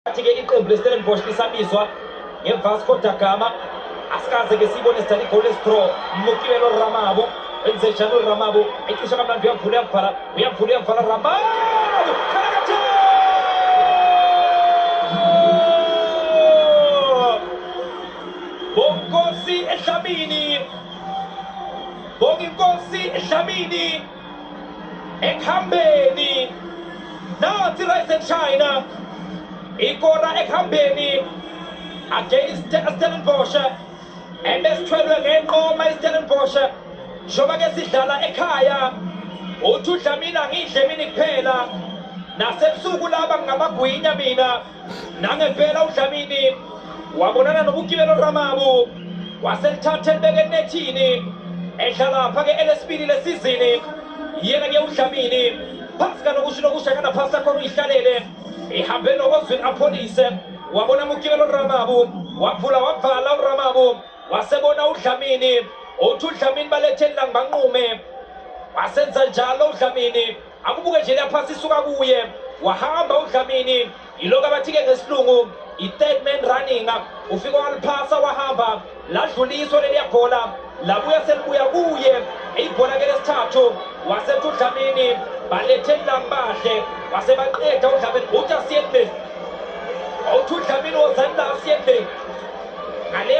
Athi-ke iqembu leStellenbosch lisabizwa ngeVasco da Gama asikaze ke siyibone sidlala igoli esithro Mukibelo Ramabo enze njalo Ramabo ecisha kamnandi uyavula uyavala uyavula uyavala Ramabo Bonkosi ehlabini Bonginkosi ehlabini ekuhambeni nathi Rising China ikora ekuhambeni against Stellenbosch ebesithwelwe ngenqoma iStellenbosch njengoba ke sidlala ekhaya uthi udlamina ngidle mina kuphela nasebusuku laba ngamagwinya mina Nangempela uDlamini wabonana noBukilelo Ramabu waselithatha elibeke enethini edlala phake elesibili lesizini yena ke uDlamini phansi kalokusho lokusha kana phasi sakhona uyihlalele ihambe nokozwini apholise wabona Mukilelo Ramabu waphula wabhala uRamabu wasebona uDlamini uthi uDlamini baletheni langibanqume wasenza njalo uDlamini Akubuke nje lapha sisuka kuye wahamba uDlamini yiloko abathike ngesilungu i-third man running ufike waliphasa wahamba ladluliswa leliya bhola labuya selibuya kuye ibhola ke lesithathu wasethi uDlamini balethe lambahle wasebaqeda uDlamini uthi asiyekubeni awuthi uDlamini wozani la asiyekubeni